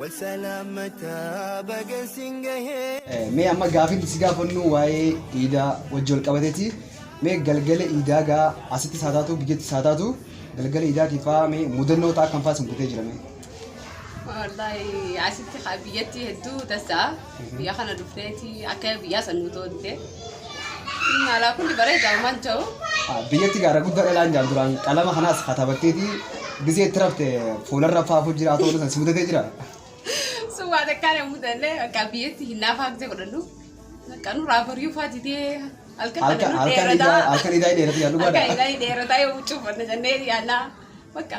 Wal salaamataa baga sin gahee. Mee amma gaafiin si gaafannu waa'ee iidaa wajji wal qabateeti. Mee galgala iidaa gaa asitti isaa taatu biyyatti isaa taatu galgala iidaatiif faa mee mudannoo ta'a kan faa sin mudee jira mee. Wallaahi asitti haa biyyatti hedduu tasaa. Biyya kana dhufneeti akka biyyaa san nu toolte. Inni alaa kun bareeda uumaan ta'u. Biyyatti gaara guddaa dhalaan jaan duraan qalama kanaas katabatteeti gisee itti rafte fuularra faafuu jira ta'uu san si mudatee jira. Sun waan akkaan hin mudanne akka biyyatti hin naafaa gisee godhannu. Akka nurraa bariyuu faa didee halkan kana Halkan nu halkan dheerataa. idaa halkan idaa dheeratu yaa Halkan dhugaadha. idaa dheerataa yoo huccuu uffanna jennee yaannaa. Bakka.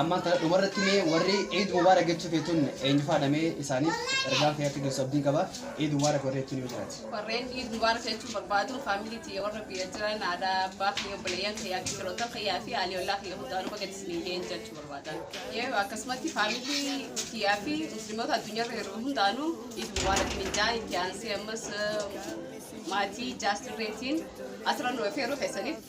Ammaan tana dhumarratti mee warri Eid Mubarak jechuu feetun eenyufaadha mee isaaniif ergaan kee akka geessu abdiin qaba. Eid Mubarak warri jechuun yoo jiraate. Warreen Eid Mubarak jechuun barbaadu faamilii tiyya warra biyya jiran haadha abbaa kiyya obboleeyyan kiyyaa fi firoottan kiyyaa fi haalii ollaa kiyya hundaanuu baga isinii ga'een jechuu barbaadan. Yoo akkasumatti faamilii tiyyaa fi musliimota addunyaarra jiru hundaanuu Eid Mubarak hin jaa itti aansee ammas maatii jaartirreetiin asirra nu affeeruu keessaniif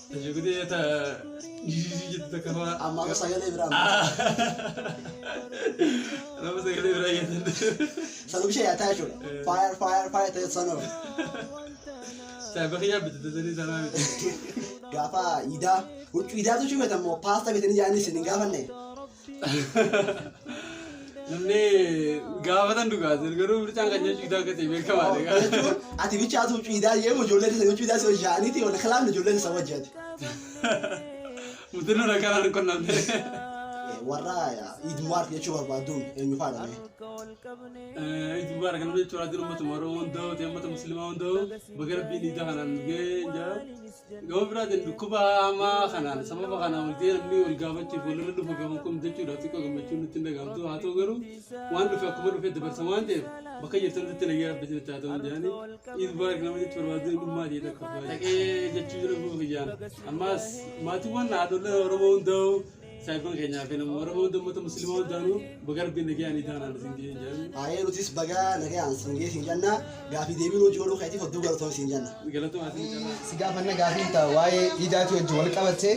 Shugutee ta jijiji jettu takka faa. Amma amma sagalee biraa amma. Nama sagalee biraa geessan. Sanuu ishee yaataa jechuudha. Fire fire fire ta'e sanuu. Saayiba kiyyaa bitu tasanii sanaa miti. Gaafa idaa huccuu idaatu ishee beektan moo paasta beektan ijaanii isin hin gaafanne. Namni gaafatan dhugaati garuu mircaan kan jechuudha akka ta'e beekamaadha. jechuun ati bichaatu ciidaa jeemu ijoollee keessa yoo ciidaa si hojjaaniiti yoo kalaan ijoollee keessa hojjaati. Mutirri rakkaan harka qunnamte. Warra idmuwaar jechuu barbaaduun eenyu faadha mee? Ijibbaara kan jechuudha adina uummatuma Oromoo hunda'u ta'e uummata musliimaa hunda'u baga rabbiin ija kanaan ga'e jaa. Gama biraatiin dhukkuba hamaa kanaan sababa kanaan wal ta'ee namni wal gaafachuuf walirra dhufa gaman kun jechuudha xiqqoo gammachuun nutti hin dhagahamtu haa ta'u garuu waan dhufe akkuma dhufe dabarsa waan ta'eef bakka jirtan irratti nagaa rabbi isinitti haa ta'u jedhanii iid baarik nama jechi barbaadu dhimmaa ta'e takka dhaqee jechuu jira guufa kiyyaan ammaas maatiiwwan haadholee oromoo hundaa'u Saifan keenya akka nama warra hunda uummata musliimaa hundaanuu baga rabbiin nagayaan idaanaan isin ga'ee hin jaallu. Haayee nutis baga nagayaan isin ga'ee isin janna gaafii deebii nuti godhuu keetiif hedduu galatoon isin janna. Galatoon isin janna. Si gaafanna gaafii ta'a waa'ee iidaati wajji wal qabatte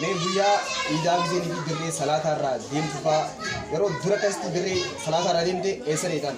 mee guyyaa iidaa biseen fi dirree salaataa irraa deemtu fa'a yeroo dura akkasitti dirree salaataa irraa deemte eessa deetan?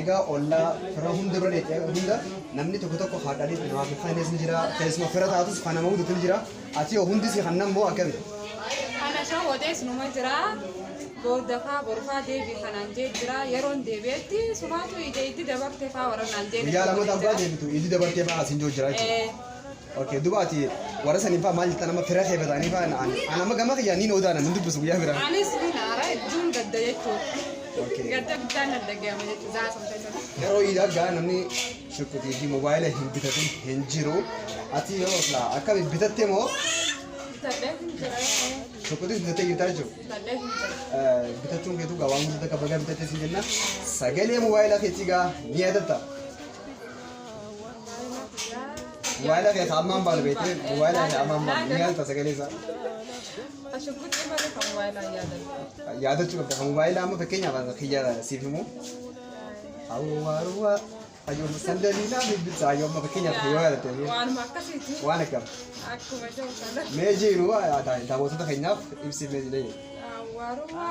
Egaa ollaa fira hunda bira deetti egaa hunda namni tokko tokko haa dhaliitti namaaf hin faynees ni jira keessuma fira taatus kan nama hudutu ni jira ati yoo hundi si kan nammoo akkami. Kana shawodees numa jira boodafaa borfaa deebii kanaan jee jira yeroon deebi'etti sumaatu ija itti dabarte faa warra naan jee. Guyyaa lama darbaa deebitu itti dabartee faa asin joo jira jechuudha. Okay, duba ati warra saniin fa'aa maal jettan amma fira kee bataanii fa'aa na'an. An amma gama kiyyaan niin odaana nan dubbisu guyyaa biraa. Anis ni naara hedduun gadda jechuudha. Okay. Gadda guddaan na dhaga'ama jechuudha. Zaa sun keessatti. Yeroo iidaa gaa namni shuquxii fi moobaayila hin bitatin hin jiru. Ati yoo silaa akkami bitatte moo Bitadhee hin jira. shuquxis bitattee jirtaa jechuudha. Bitadhee hin jira. bitachuun keetu gaa waan guddaa akka bagaa bitattee siin jenna. Sagalee moobaayilaa keetii gaa ni yaadatta. Mobaayila kee ammaan baanu beekte mobaayila kee ammaan baanu ni yaalta sagalee isaa. Ashugguxii malee kan mobaayilaa yaadatu. Yaadachuu qabda kan mobaayila amma fakkeenyaaf kiyya siif himu. Awwaaruwaa ayyoo sandalii naa bibbisa ayyoo amma fakkeenyaaf yoo yaadatte Waanuma akkasiiti. waan akkam Akkuma jiru kana. mee jiru daawwattoota keenyaaf ibsiif mee jedhee. Awwaaruwaa.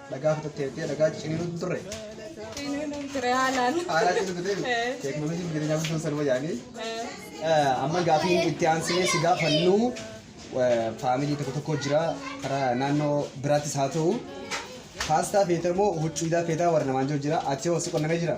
Dhagaa fitattee jettee dhagaa ciniinuu hin turre. Ciniinuu ture haalaan. Haalaa ciniinuu fitee jiru. Eh. Teeknooloojiin jireenyaa guddoon sanuma yaanii. Eh, Amma gaafiin itti aansinee si gaafannu eh, faamilii tokko tokko jira karaa naannoo biraattis haa ta'u. Paastaa feetaa moo huccuudaa feetaa warra namaan jiru jira. Ati hoo si qonnamee jira?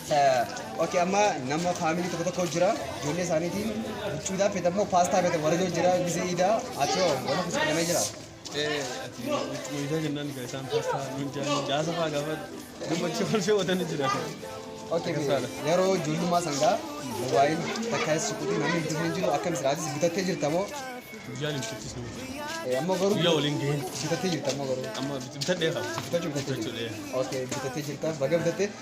ok amma nama faamilii tokko tokko jira ijoollee isaaniitiin huccuutaa fedha immoo paastaa fedha warajoo jira gizee iidaa ati hoo wanta kusi fedhamee jira ati wiidaa jennaan egaa isaan paastaa nuun jaanii jaasa faa gaafa gammachuu kolfee watanii jira ok Akkasaadha. yeroo ijoollummaa sangaa mobaayil takka suquutii namni bitatee hin jiru akkam siraatis bitattee jirta moo guyyaan hin bittis nu Eh, ammoo garuu guyyaa waliin gaheen bitattee jirta ammoo garuu amma bitadhee qaba bitachuu bitattee Bitachuu, jirta ok bitattee jirta baga bitattee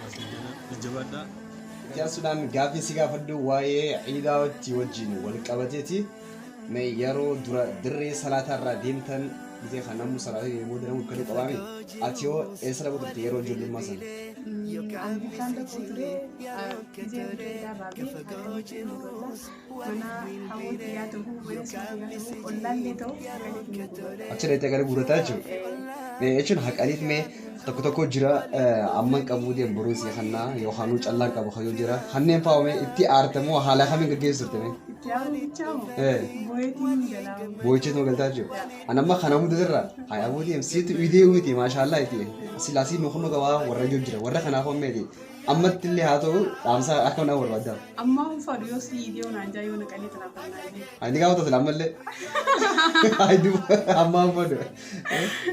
Jajjabaadhaa. Itti aansuudhaan gaaffii si gaafadhu waa'ee ciidaatti wajjin wal qabateeti. Mee yeroo dura dirree salaataa irraa deemtan dhitee kan namuu salaatee deemee booda namuu kan qabaame ati hoo eessa dhaquu turte yeroo ijoollummaa sana? Ani bishaan tokko ture. Gisee hojii irraa baatee akkamitti hin godha? Mana hawwoo tiyyaa ta'uu, mana kiyyaa ta'uu, ollaallee ta'uu haqaniif ni guurrata. Achi dhaqxee gara guurrataa jechuudha. Ee, Jechuun haqaniif mee tokko tokko jira eh, amman qabuu deemu boruu sii kannaa yookaan callaan qabu kayyoo jira. Kanneen fa'aa mee itti aartamoo haala kamiin gaggeessu turte mee? Itti aaruu bichaa moo? Ee. Bu'eetiin galaa. Boo'ichee tuma galtaa jiru. Ani amma kana hunda irra hayaa boodeem siitu idee uumiti maashaallah iti. Silaasii nu kunnu gabaa warra jiru jira warra kanaaf ammeeti. Ammatti illee haa ta'u dhaamsa akka na barbaaddaa. Ammaa hin fadhu yoo si dhiibee onaan jaa yoo naqanii tana fannaa. Ani gaafa tasu ammallee. Amma fadu.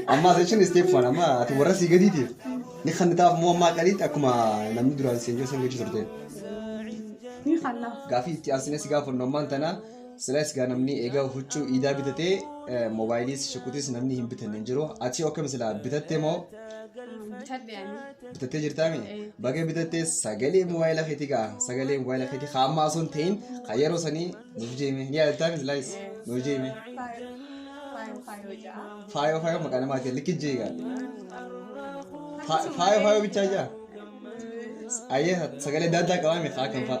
Amma section step one amma ati warra si gadiitiif. Ni kan taaf moo amma qaliitti akkuma namni duraan seenjoo san gochuu turte. Ni kan laaf. Gaafii itti aansinee si gaafannu ammaan tanaa Silas gaa namni egaa huccuu iidaa bitatee eh, moobaayiliis shukutis namni hin bitanne hin jiru. Ati akkam silaa bitatte moo bitadhe ani bitattee jirtaami? Eh. Baga bitattee sagalee moobaayila keetii gaa sagalee moobaayila keetii haa ammaa osoo hin ta'in kan yeroo sanii nuuf jeeme ni yaadattaami silaayis nuuf jeeme. faayoo faayoo faayoo ja'a Faayoo faayoo maqaa namaatiin likki jeegaa. Faayoo faayoo bichaa jaa. Ayyee sagalee adda addaa qabaame haa kan fa'a.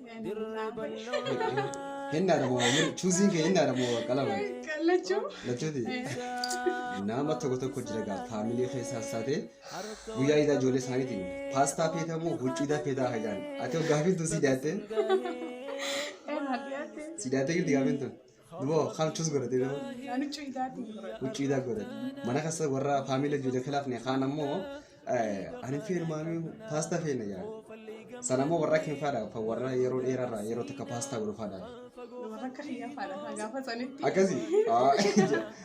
Hennaadha moo waan jedhu chuuziin kee hennaadha moo qalama Kallachuu. lachuuti. Nama tokko tokko jira gaa faamilee keessaa saatee guyyaa idaa ijoollee isaaniitiin paastaa feetaa moo huccuu idaa feetaa hajaan ati hoo gaafiin tun si diyaattee si diyaattee jirti gaafiin tun Duba kamchus godhate duba. Ani huccuu idaatiin godhadha. Huccuu idaa godhate. Mana keessa warra faamila ijoollee kilaafne kaan ammoo ani feenu maamii paastaa feena jedha. Sana ammoo warra akin faadha kan warra yeroo dheerarraa yeroo takka paastaa godhu faadha. Warra akka kiyyaa faadha. Gaafa sanitti. Akkasii.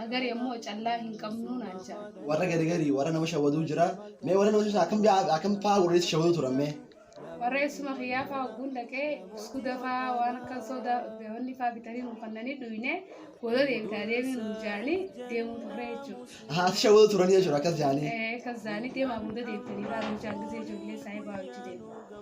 Hagari ammoo callaa hin qabnuu naan ja'a. Warra gari gari warra nama shawaduu jira. Mee warra nama sun akkam bi'a akkam faa warri shawaduu turan mee. Warra eessuma kiyyaa faa hogguun dhaqee biskuuta faa waan akkan sooda wanni faa bitanii nu kannanii dhuyne booda deebitaa deemii nu jaanii deemuu turre jechuudha. Haati shawaduu turanii jechuudha akkas jaanii. Akkas jaanii deemaa booda deebitanii faa nu jaan gisee ijoollee isaa eebaa hojii deema.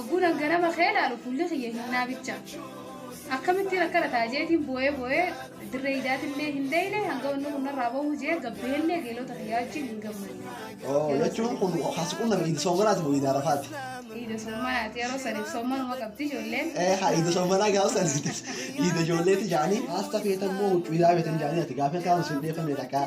Ogguun an ganama kee laalu fuulli kiyya hinnaa bicha. Akkamittiin akkana ta'a jeetiin boo'ee boo'ee dirree idaatillee hin deeyne hanga wanni kun narraa bahu jee gabbeellee geelota kiyyaa wajjin hin gammanne. Oo jechuun kun haasi kun nama iidi soomanaati moo iidi arafaati? Iida soomanaati yeroo saniif soomanuma qabdi ijoolleen. Ee haa iidi soomanaa gaafa sanitti iida ijoolleeti jaanii haasta feetan moo huccuu idaa feetan jaanii ati gaafa kaan sun deefamee dhaqaa.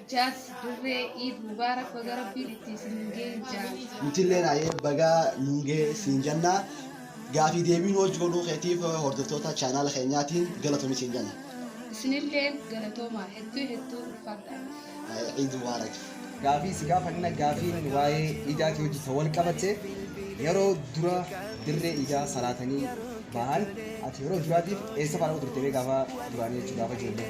Jaaz dirree iid mubaarak baga rabbiin itti isin gee jaaz. Nutilleen ayee bagaa nuun gahee siin janna gaafii deebii nu hojj godhuu keetiif hordoftoota chaanaala keenyaatiin galatomi siin janna. Isinilleen galatoomaa hedduu hedduu ulfaadhaa nuuf. Ayee Eid Mubarak. Gaafii si gaafanna gaafiin waa'ee iidaatii wajji kan wal qabatte yeroo dura dirree iidaa salaatanii bahan ati yeroo duraatiif eessa fa'a dhaqu turte mee gaafa duraanii jechuun gaafa ijoollee.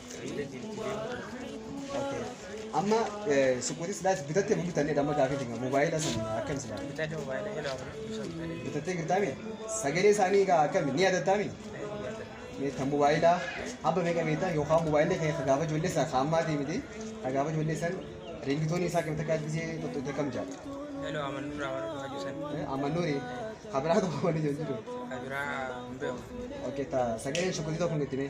Okay. Amma eh, suuqotii silaa bitattee moo bitanne amma gaafii dinga moobaayila sun akkam silaa Bitadhe mobaayila ilaa kun ibsan ta'e. bitattee girtaami sagalee isaanii egaa akkami ni yaadattaami meetta moobaayila abba meeqa meetta yookaan moobaayilli kee ka gaafa ijoollee isaa ka ammaatii miti ka gaafa ijoollee san riingitoonii isaa akkamitti akka gisee tokko itti akkam jaal Heloo aman duraa waan dhugaa jisan. amma nuuri ka biraa tokko waan ijoollee jiru Kabiraa hin beeku. okay ta sagaleen suuqotii tokko hin itti mee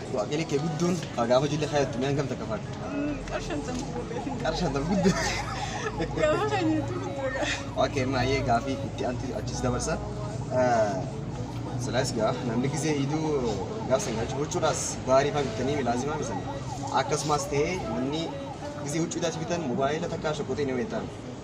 Waaqni kee guddoon kaa gaafa ijoollee kaayattu mi'aan gamta akka faadhu. Qar shantam gurgurreef hin Qar shantam guddoo. Gaafa kan jettu guddoo qara. Okay, maayee gaafii itti aantu achis dabarsa. Silaas gaa namni gisee hiduu gaaf san galchu huccuudhaas baarii faa bittanii milaazimaa misan. Akkasumas ta'ee namni gisee huccuudhaas bitan mobaayila takkaa shokoxee ni weetaan.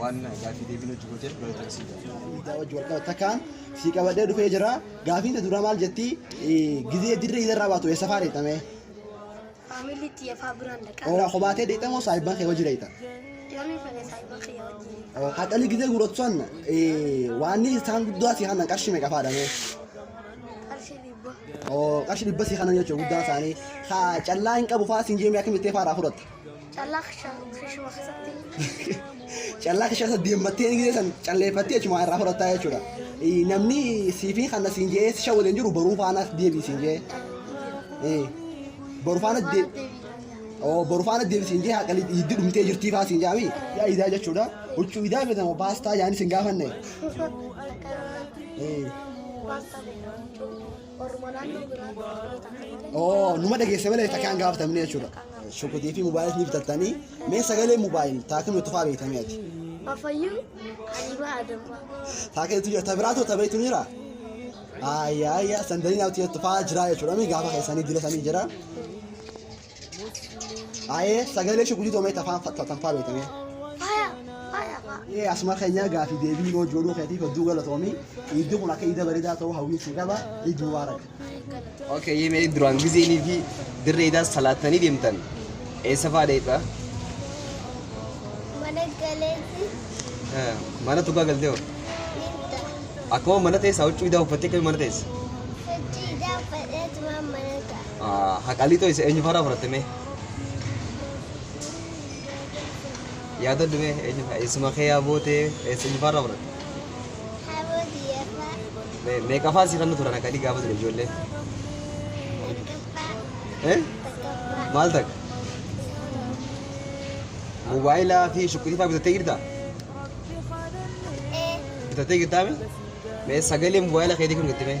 waan gaaffii deebiin hojii gooteef galatoon sii Miidiyaa wajji wal qabatta kaan sii qabadhee dhufee jira. Gaafiin ta duraa maal jetti? Gizee dirree idarraa baatu eessa faa deetta mee? Faamilii itti yafaa biraan dhaqaa. Ooraa kophaa tee deetta moo saahibban kee wajji deetta? Yoonii fedhe saayiba kiyya wajjin. Haxalii gizee guuratu san waanni isaan guddaa sii hanan qarshii meeqa faadha mee? Qarshii dhibba. Oo qarshii dhibba sii hanan jechuudha guddaan isaanii. Haa callaa hin qabu faa siin jeemee akkamitti faadhaa fudhatta? Callaa kisha kishuma keessatti. Callaa kisha isa deemmattee ni geessan calleeffattee achuma irraa fudhattaa jechuudha. Eh, Namni siifii kana siin jee sisha waliin jiru baruu faanaas deebii siin jee. Eh, Baruu faana deebii. deebii. Oo baruu faana deebii siin jee haqalii itti dhumtee jirtii faa siin jaami. Yaa idaa jechuudha. Huccuu idaa beekamu paastaa yaani siin gaafanne. Akka Eh, paastaa beekamu. Orma naannoo biraa Oromoo ta'a. Oo, numa dhageesse malee takkaan gaafatamne jechuudha. Shukutii fi mobaayil ni bitattanii. Mee sagalee mobaayil taakii nuti faa beektamee ati. Afayyuu Habiibaa Adambaa. Taakii nuti jira. Tabiraatoo tabiriitu ni jira. Ayyaa ayyaa sandanii naaf tuyyattu faa jira jechuudha. Mee gaafa keessanii dila sanii jira. Aye sagalee shugulitu amee tafaan tanfaa beekamee. Faya, faya, faya. Ee asuma keenyaa gaafii deebii noo jooluu keetiif hedduu galatoomii iiddi kun akka iida bareedaa ta'uu hawwiin si qaba iid mubaarak. Okay, yee mee duraan gizeenii fi dirree idaa salaattanii deemtan eessa fa'aa deemta? Mana galeeti Eh, Mana tugaa galtee hoo? ninta. Akkuma mana teessa huccuu idaa uffattee akkamiin mana teessa? Hojii idaa fadheetumaan mana ta'a. Haqalii too isa eenyu faarraa fudhatte mee? Yaadadhu mee eenyu faa- eessuma kee yaa bootee eessa eenyu faarraa fudhatte? Haboo diyyafaa. Mee meeqa faa si fannu turan haqalii gaafa ture ijoollee? Tokkoffaa. Eh? Tokkoffaa. Maal takka? Moobaayilaa fi shuqqisii faa bitattee jirtaa? Ee. Bitattee jirtaa mee? Mee sagalee moobaayila keetii kun jettee mee?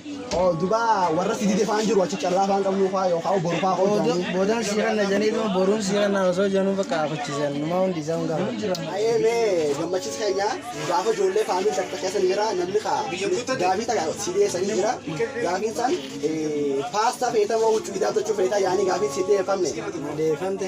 Oo duba warra si dide faan jiru achi callaa faan qabnu faa yookaan boru faa koo Booda- jaanii. Boodaan siiran na jedhanii dhuma boruun siiran na osoo jedhanuu bakka afachiisan numaa hundi isaa hundaa. Ayee mee gammachis keenya gaafa ijoollee faamii takka keessa ni jira namni kaa gaafii takka si dhiyeessanii jira gaafiin san paastaa feetamoo huccuu hidhaatachuu feetaa yaanii gaafiin si dhiyeeffamne. Deeffamte.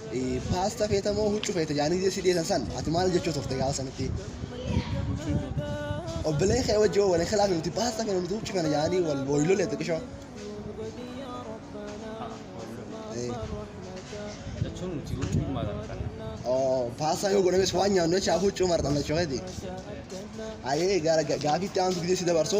Paasta feeta moo huccu feeta jaanii gisee si dhiyeessan san ati maal jechuu turte gaafa sanitti? Obboleen kee wajji wal hin khilaafne nuti paasta feena nuti huccu feena jaanii wal wal lolee xiqishoo. jechuun nuti huccuu maadhaan kan Oo paasta yoo godhames waan nyaannu jecha huccuu marxan jechuudha. Ayee gara gaafiitti aantu gisee si dabarsu.